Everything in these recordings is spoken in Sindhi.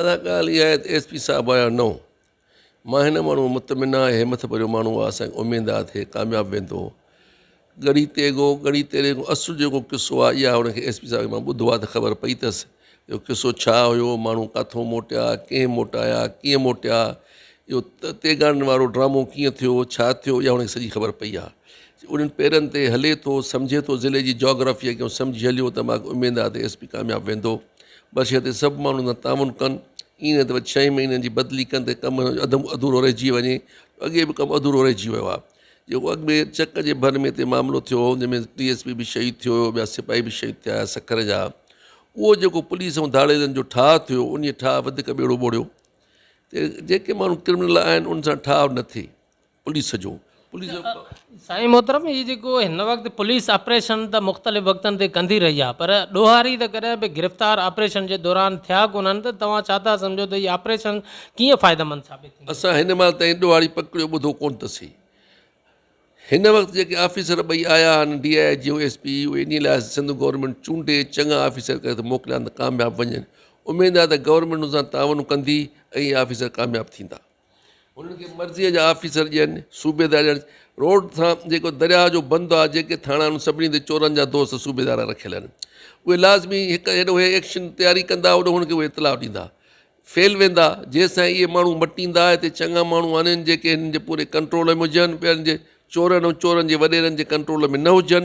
ادا ڳالهه اها آهي ته ايس پي صاحب آيا نو مان هن ماڻهو مطمئن آهي همٿ ڀريو ماڻهو آهي اسان کي اميد آهي ته هي ڪامياب ويندو ڳڙهي تيغو ڳڙهي تيريغو اصل جيڪو قصو آهي اها هن کي ايس پي صاحب کي مان ٻڌو آهي ته خبر پئي اٿس اهو قصو ڇا هيو ماڻهو ڪاٿو موٽيا ڪنهن موٽايا ڪيئن موٽيا اهو تيغاڙن وارو ڊرامو ڪيئن ٿيو ڇا ٿيو اها هن کي سڄي خبر پئي آهي انهن پيرن تي هلي ٿو سمجهي ٿو ضلعي جي جاگرافيء کي سمجهي هليو ته ماکي اميد آهي ته ايس پي ڪامياب ويندو بس اهو ته سڀ ماڻهو ان سان تعاون ڪن، ائين نه ته وچ ڇهين مهينن جي بدلي ڪن ته ڪم اڌ اڌورو رهجي وڃي، اڳي به ڪم اڌورو رهجي ويو آهي. جيڪو اڳ ۾ چڪ جي ڀر ۾ هتي معاملو ٿيو هو، جنهن ۾ ڊي ايس پي به شهيد ٿيو هيو، ٻيا سپاهي به شهيد ٿيا هيا سکر جا، اهو جيڪو پوليس ۽ ڌاڙيلن جو ٺاهه ٿيو، انهيء ٺاهه وڌيڪ ٻيڙو ٻوڙيو ته جيڪي ماڻهو ڪرمنل آهن، انهن سان ٺاهه نه ٿئي. پوليس جو پوليس جو سائين محترم هي جيڪو هن وقت پوليس آپريشن ته مختلف وقتن تي ڪندي رهي آهي پر ڏوهاري ته ڪڏهن به گرفتار آپريشن جي دوران ٿيا ڪونهن ته توهان ڇا ٿا سمجهو ته هي آپريشن ڪيئن فائديمند ثابت ٿيندي؟ اسان هن مهل تائين ڏوهاري پڪڙيو ٻڌو ڪونه ته سهي هن وقت جيڪي آفيسر ٻئي آيا آهن D I G S P اهي انهي لاء سنڌ گورنمينٽ چونڊي چڱا آفيسر ڪري ته موڪليا ته ڪامياب وڃن اميد آهي ته گورنمينٽ ان سان تعاون ڪندي ۽ اهي آفيسر ڪامياب ٿيندا. انهن کي مرضيء جا آفيسر ڏين، صوبيدار ڄڻ روڊ سان جيڪو درياهه جو بند آ، جيڪي ٿاڻا انهن سڀني تي چورن جا دوست صوبيدار رکيل آهن. اهي لازمي هڪ هيڏو هي ايڪشن تياري ڪندا هوڏو هن کي اهي اطلاع ڏيندا. فيل ويندا، جيستائين اهي ماڻهو مٽيندا هتي چڱا ماڻهو آنهن جيڪي هنن جي پوري ڪنٽرول ۾ هجن، ٻين جي چورن ۽ چورن جي وڏيرن جي ڪنٽرول ۾ نه هجن.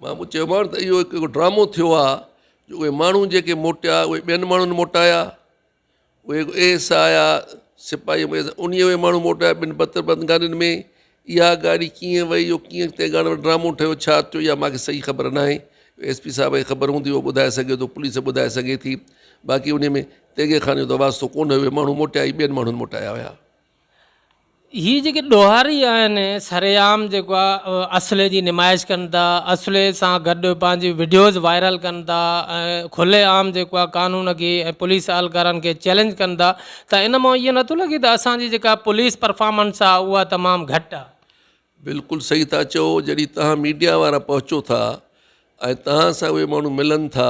مان به چيومانس ته اهو هڪ ڊرامو ٿيو آ جو اهي ماڻهو جيڪي موٽيا اهي ٻين ماڻهن موٽايا اهي اي ايس آء آيا سپاهي مي ان اهي ماڻهو موٽايا ٻن بتر بند گاڏين ۾ اها گاڏي ڪيئن وئي اهو ڪيئن تنهن ڪارڻ ڊرامو ٺهيو ڇا ٿيو اها مانکي صحيح خبر ناهي ايس پي صاحب کي خبر هوندي اهو ٻڌائي سگهي ٿو پوليس ٻڌائي سگهي ٿي باقي ان ۾ تيغي خان جو ته واسطو ڪونه هيو اهي ماڻهو موٽيا اهي ٻين ماڻهن موٽايا هيا هي جيڪي ڏوهاري آهن سر عام جيڪو آهي اسلحي جي نمائش ڪن ٿا اسلحي سان گڏ پنهنجي وڊيوز وائرل ڪن ٿا ۽ کلي عام جيڪو آهي قانون کي ۽ پوليس اهلڪارن کي چئلينج ڪن ٿا ته ان مان اهو نٿو لڳي ته اسان جي جيڪا پوليس پرفارمنس آهي اها تمام گهٽ آهي بلڪل صحيح ٿا چئو جڏهن توهان ميڊيا وارا پهچو ٿا ۽ توهان سان اهي ماڻهو ملن ٿا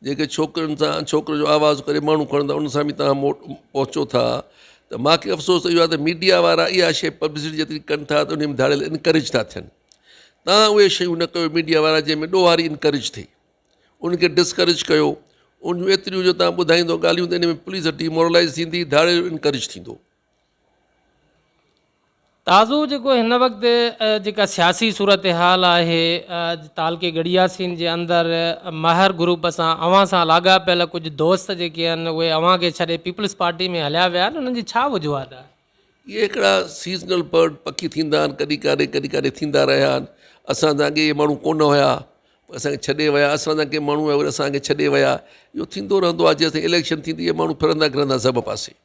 جيڪي ڇوڪرين سان ڇوڪرين جو آواز ڪري ماڻهو کڻن ٿا ان سان به توهان مو پهچو ٿا ته ماکي افسوس ته اهو آهي ته ميڊيا وارا اها شي پبلسٽي جيتري ڪن ٿا ته انهي ۾ ڌاڙيل انڪريج ٿا ٿين توهان اهي شيون نه ڪيو ميڊيا وارا جنهن ۾ ڏوهاري انڪريج ٿئي ان کي ڊسڪريج ڪيو ان جون ايتريون جو توهان ٻڌائيندو ڳالهيون ته ان ۾ پوليس ڊي مورلائز ٿيندي ڌاڙيل انڪريج ٿيندو تازو جيڪو هن وقت جيڪا سياسي صورتحال آهي تعلقي گڙياسين جي اندر مهر گروپ سان اوهان سان لاڳاپيل ڪجهه دوست جيڪي آهن اهي اوهان کي ڇڏي پيپلز پارٽي ۾ هليا ويا آهن انهن جي ڇا وجوهات آهي؟ اهي هڪڙا سيزنل برڊ پکي ٿيندا آهن ڪڏهن ڪاڏي ڪڏهن ڪاڏي ٿيندا رهيا آهن اسان سان اڳي اهي ماڻهو ڪونه هيا اسان کي ڇڏي ويا اسان سان ڪي ماڻهو اسان کي ڇڏي ويا اهو ٿيندو رهندو آهي جيسين اليڪشن ٿيندي اهي ماڻهو ڦرندا گھرندا سڀ پاسي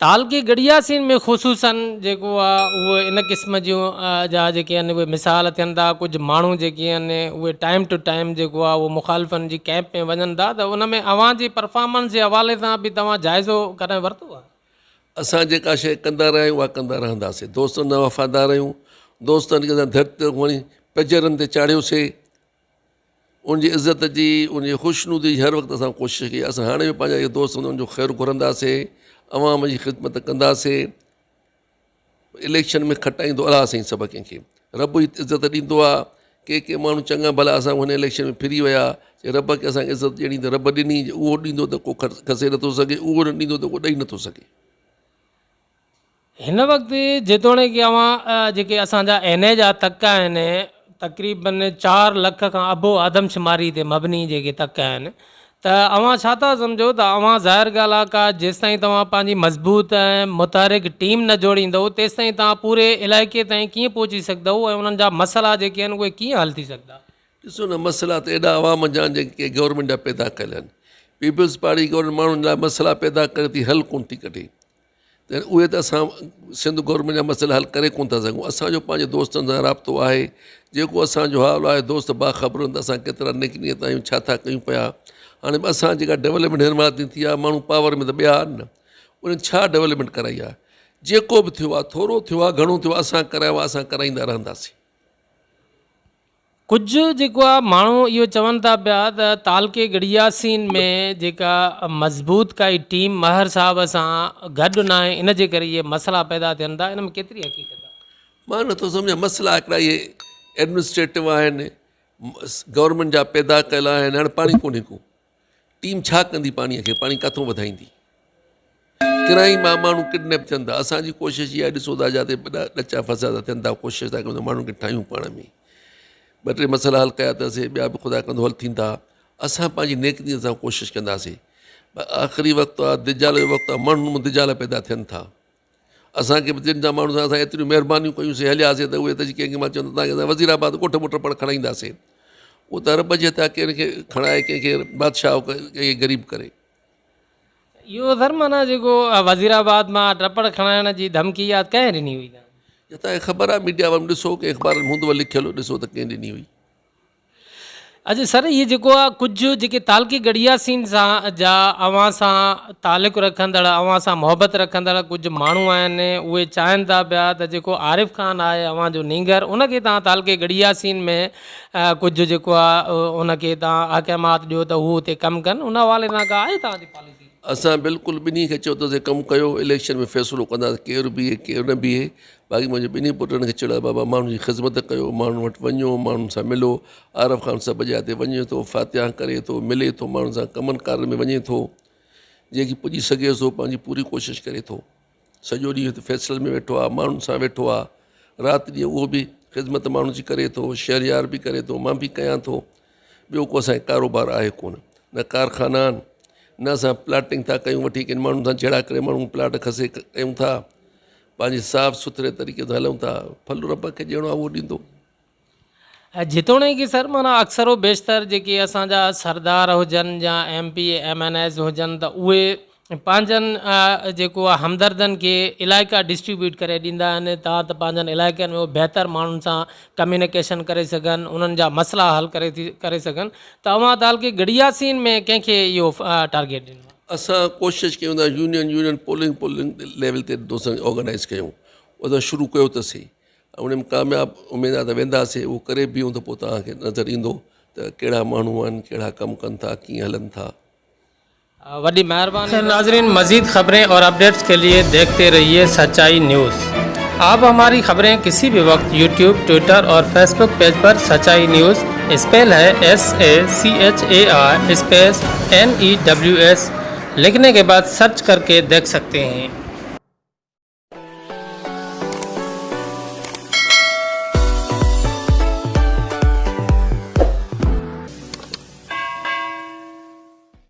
تعلقي گڙياسين ۾ خصوصاً جيڪو آ اهو ان قسم جون جا جيڪي آهن اهي مثال ٿين ٿا ڪجهه ماڻهو جيڪي آهن اهي ٽائيم ٽو ٽائيم جيڪو آ اهو مخالفن جي ڪئمپ ۾ وڃن ٿا ته ان ۾ اوهان جي پرفارمنس جي حوالي سان به توهان جائزو ڪڏهن ورتو آهي؟ اسان جيڪا شيء ڪندا رهيا آهيون اها ڪندا رهنداسين دوستن جا وفادار آهيون دوستن کي اسان ڌرتي تي کڻي پڄيرن تي چاڙهيوسي ان جي عزت جي، ان جي خوشنودي جي هر وقت اسان ڪوشش ڪئي. اسان هاڻي به پنهنجا اهي دوست هوندو ان جو خير گهرنداسين، عوام جي خدمت ڪنداسين. اليڪشن ۾ کٽائيندو الاهه سائين سڀ ڪنهن کي. رب ئي عزت ڏيندو آ. ڪي ڪي ماڻهو چڱا ڀلا اسان کان هن اليڪشن ۾ ڦري ويا. جي رب کي اسان کي عزت ڏيڻي ته رب ڏني، جي اهو ڏيندو ته ڪو کسي نٿو سگهي، اهو نه ڏيندو ته ڪو ڏئي نٿو سگهي. هن وقت جيتوڻيڪ اوهان جيڪي اسان جا اين اي جا تڪ آهن تقريبن چار لک کان ابو آدمشماري تي مبني جيڪي تڪ آهن ته اوهان ڇا ٿا سمجهو ته اوهان ظاهر ڳالهه آهي ڪا جيستائين توهان پنهنجي مضبوط ۽ متحرڪ ٽيم نه جوڙيندؤ تيستائين توهان پوري علائقي تائين ڪيئن پهچي سگهندؤ ۽ انهن جا مسئلا جيڪي آهن اهي ڪيئن حل ٿي سگهندا ڏسو نه مسئلا ته ايڏا عوام جا جيڪي گورنمينٽ جا پيدا ڪيل آهن پيپلز پارٽي گورنمينٽ ماڻهن لاء مسئلا پيدا ڪري ٿي حل ڪونه ٿي ڪڍي ته اهي ته اسان سنڌ گورنمينٽ جا مسئلا حل ڪري ڪونه ٿا سگهون اسان جو پنهنجي دوستن سان رابطو آهي جيڪو اسان جو حال آهي دوست باخبر آهن ته اسان ڪيترا نيڪ نيت آهيون ڇا ٿا ڪيون پيا هاڻي به اسان جيڪا ڊيولپمينٽ هن وقت تائين ٿي آهي ماڻهو پاور ۾ ته ٻيا آهن نه انهن ڇا ڊيولپمينٽ ڪرائي آهي جيڪو به ٿيو آهي ٿورو ٿيو آهي گهڻو ٿيو آهي اسان ڪرايو آهي اسان ڪرائيندا رهنداسين ڪجهه جيڪو آ ماڻهو اهو چون ٿا پيا ته تعلقي گڙياسين ۾ جيڪا مضبوط ڪائي ٽيم مهر صاحب سان گڏ ناهي ان جي ڪري اهي مسئلا پيدا ٿين ٿا ان ۾ ڪيتري حقيقت آ؟ مان نٿو سمجهان مسئلا هڪڙا اهي ايڊمنسٽريٽو آهن گورنمينٽ جا پيدا ڪيل آهن هاڻي پاڻي ڪونهي ڪو ٽيم ڇا ڪندي پاڻي کي پاڻي ڪاٿون وڌائيندي ڪرائي مان ماڻهو ڪڊنيپ ٿين ٿا اسان جي ڪوشش اها ڏسو ٿا جاتے ٻڏا ڏچا فساد ٿا ٿين ٿا ڪوشش ٿا ڪيون ماڻهن کي ٺاهيون پاڻ ۾ ٻ ٽي مسئلا حل ڪيا اٿاسي ٻيا به خدا ڪندو حل ٿيندا اسان پنهنجي نيڪتي سان ڪوشش ڪنداسي آخري وقت آ دجال جو وقت آ ماڻهن ۾ دجال پيدا ٿين ٿا اسان کي به دين جا ماڻهو سان اسان ايتريون مهربانيون ڪيون سي هليا سي ته اهي ته جي ڪنهن کي مان چيو ته تان کي اسان وزير آباد ڳوٺ ٻوٺ پڻ کڻائيندا سي اهو ته رب جي هٿ آ ڪنهن کي کڻائي ڪنهن کي بادشاهه او ڪري ڪنهن کي غريب ڪري. اهو سر معنيٰ جيڪو وزير آباد مان ٽپڙ کڻائڻ جي ڌمڪي اها ڪنهن ڏني هئي تان کي؟ جتان کي خبر آ ميڊيا وارن ڏسو ڪنهن اخبارن ۾ هوندو لکيل ڏسو ته ڪنهن ڏني هئي. اچھا سر هي جيڪو آ ڪجهه جيڪي تعلقي گڙيا سين سان جا اوهان سان تعلق رکندڙ اوهان سان محبت رکندڙ ڪجهه ماڻهو آهن اهي چاهن ٿا پيا ته جيڪو عارف خان آهي اوهان جو نينگر ان کي توهان تعلقي گڙيا سين ۾ ڪجهه جيڪو آ ان کي توهان احڪامات ڏيو ته هو اتي ڪم ڪن ان حوالي سان ڪا آهي توهان جي پاليسي؟ اسان بلڪل ٻنهي کي چيو ته اتي ڪم ڪيو اليڪشن ۾ فيصلو ڪنداسين ڪير بيهي ڪير نه بيهي باقي منهنجي ٻنهي پٽن کي چيڙايو بابا ماڻهن جي خذمت ڪيو ماڻهن وٽ وڃو ماڻهن سان ملو عارف خان سڀ جاء تي وڃي ٿو فاتحا ڪري ٿو ملي ٿو ماڻهن سان ڪمن ڪارن ۾ وڃي ٿو جيڪي پڄي سگهي ٿو پنهنجي پوري ڪوشش ڪري ٿو سڄو ڏينهن هت فيصل ۾ ويٺو آهي ماڻهن سان ويٺو آهي رات ڏينهن اهو به خذمت ماڻهن جي ڪري ٿو شهريار به ڪري ٿو مان به ڪيان ٿو ٻيو ڪو اسانکي ڪاروبار آهي ڪونه نه ڪارخانا آهن نه اسان پلاٽنگ ٿا ڪيون وٺي ڪن ماڻهن سان جهيڙا ڪري ماڻهو پلاٽ کسي ڪيون ٿا پنهنجي صاف سٿري طريقي سان هلون ٿا ڦل رب کي ڏيڻو آهي اهو ڏيندو جيتوڻيڪ سر معنيٰ اڪثر و بيشتر جيڪي اسانجا سردار هجن يا M P M N As هجن ته اهي پنهنجن جيڪو آهي همدردن کي علائقا ڊسٽريبيوٽ ڪري ڏيندا آهن تان ته پنهنجن علائقن ۾ اهي بهتر ماڻهن سان ڪميونيڪيشن ڪري سگهن انهن جا مسئلا حل ڪري ٿي ڪري سگهن ته اوهان تعلقي گڙياسين ۾ ڪنهن کي اهو ٽارگيٽ ڏنو آهي؟ اسان ڪوشش ڪيون ٿا union union polling polling level تي دوستن کي آرگنائيز ڪيون اسان شروع ڪيو ته سهي ان ۾ ڪامياب اميد آهي ته وينداسي اهو ڪري بيهون ته پوء توهان کي نظر ايندو ته ڪهڙا ماڻهو آهن ڪهڙا ڪم ڪن ٿا ڪيئن هلن ٿا وڏي مهرباني. ناظرين مزيد خبرين اور اپڊيٽس ڪي لئي ديکتي رهيي سچائي نيوز آپ هماري خبرين ڪسي بي وقت يوٽيوب ٽوئيٽر اور فيس بوڪ پيج پر سچائي نيوز اسپيل هي S A C H A I space N E W S لکني ڪي بعد سرچ ڪر ڪي ديک سڪتي هين.